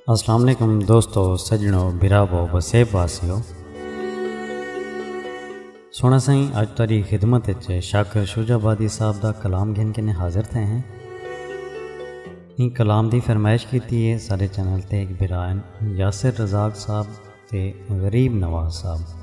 السلام علیکم دوستو سجنو براو وسیب واسیو سونا سائیں اج تاری خدمت اچے شاکر شجا بادی صاحب دا کلام گھن کے نے حاضر تھے ہیں ان کلام دی فرمائش کی تھی ہے سارے چینل تے ایک برائن یاسر رزاق صاحب تے غریب نواز صاحب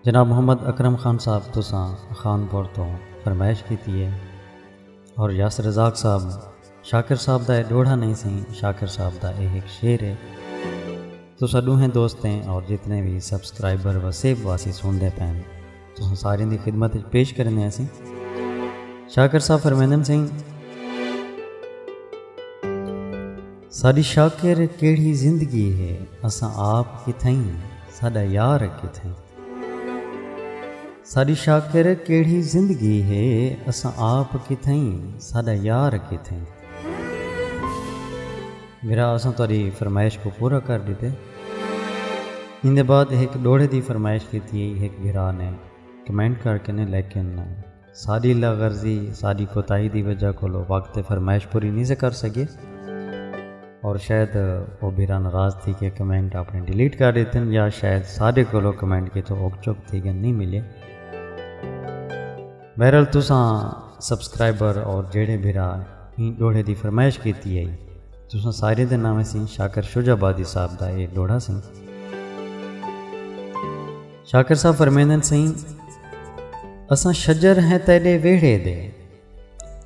جناب محمد اکرم خان صاحب تساں خان پور توں فرمائش کیتی ہے اور یاس رزاق صاحب شاکر صاحب دا اے ڈوڑھا نہیں سی شاکر صاحب دا اے ہک شعر ہے تساں ڈوہیں دوستیں اور جتنے بھی سبسکرائبر و سیب واسی سن دے پین تساں سارے دی خدمت پیش کرنے ہیں سی شاکر صاحب فرمیندن سنگھ ساݙی شاکر کیڑھی زندگی ہے اساں آپ کتھائیں ساݙا یار کتھائیں۔ ساݙی شاکر کیڑھی زندگی ہے اساں آپ کتھائیں ساݙا یار کتھائیں۔ بھرا اساں تہاݙی فرمائش کوں پورا کر ݙتے۔ ایندے بعد ہک ݙوہڑے دی فرمائش کیتی ہئی ہک بھرا نے کمنٹ کر کے نے لیکن۔ ساڈی لا غرضی، ساڈی کوتاہی دی وجہ کولو وقت تے فرمائش پوری نی سے کر سگے اور شاید او بھرا ناراض تھی کے کمنٹ اپنے ڈیلیٹ کر ڈیتن یا شاید ساڈے کولو کمنٹ کیتو اوک چک تھی گن نی ملے۔ بہرحال تساں سبسکرائبر اور جیڑھے بھرا ایں ڈوہڑے دی فرمائش کیتی ہئی تساں ساریں دے ناویں سیں شاکر شجاع آبادی صاحب دا اے ڈوہڑا سیں۔ شاکر صاحب فرمیندن سئیں اساں شجر ہیں تیڈے ویڑھے دے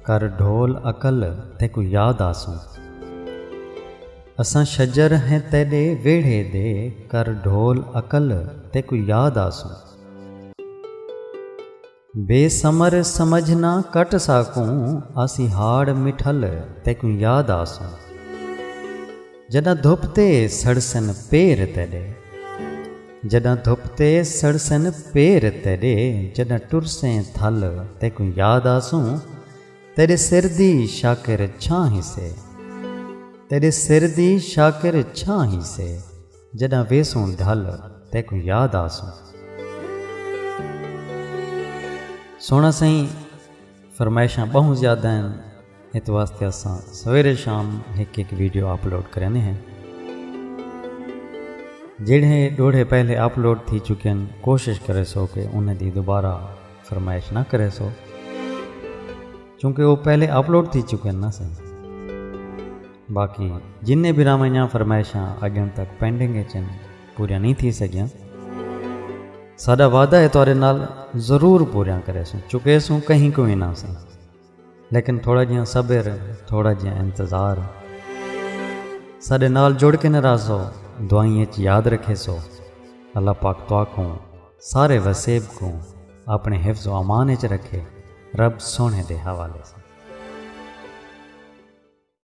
کر ڈھول عقل تیکو یاد آسوں اساں شجر ہیں تیڈے ویڑھے دے کر ڈھول عقل تیکو یاد آسوں بے ثمر سمجھ نہ کٹ ساکوں آسی ہاڑ مٹھل تیکوں یاد آسوں جڈاں دھپ تے سڑسن پیر تیڈے جڈاں دھپ تے سڑسن پیر تیڈے جڈاں ٹرسیں تھل تیکوں یاد آسوں تیڈے سر دی شاکر چھاں ہیسے تیڈے سر دی شاکر چھاں ہیسے۔ جݙاں ویسوں ڈھل تیکوں یاد آسوں۔ سوہݨا سئیں فرمائشاں ٻہوں زیادہ ہن ات واسطے اساں سویرے شام ہک ہک ویڈیو اپلوڈ کریندے ہیں جیڑھے ݙوڑھے پہلے اپلوڈ تھی چکے ہن کوشش کریسو کہ انہاں دی دوبارہ فرمائش نہ کریسو چونکہ او پہلے اپلوڈ تھی چکے ہن نا سئیں۔ باقی جنہیں بھراواں دیاں فرمائشاں اجن تک پینڈنگ اچ ہن پوریاں نہیں تھی سگیاں ساڈا وعدہ ہے تہاڈے نال ضرور پوریاں کریسوں چکیسوں کہیں کو وی نہ سن لیکن تھوڑا جیاں صبر تھوڑا جیاں انتظار ساڈے نال جڑ کے ناراض ہو دعائیں اچ یاد رکھے سو اللہ پاک تو آکھوں سارے وسیب کو اپنے حفظ و امان اچ رکھے رب سونے دے حوالے سے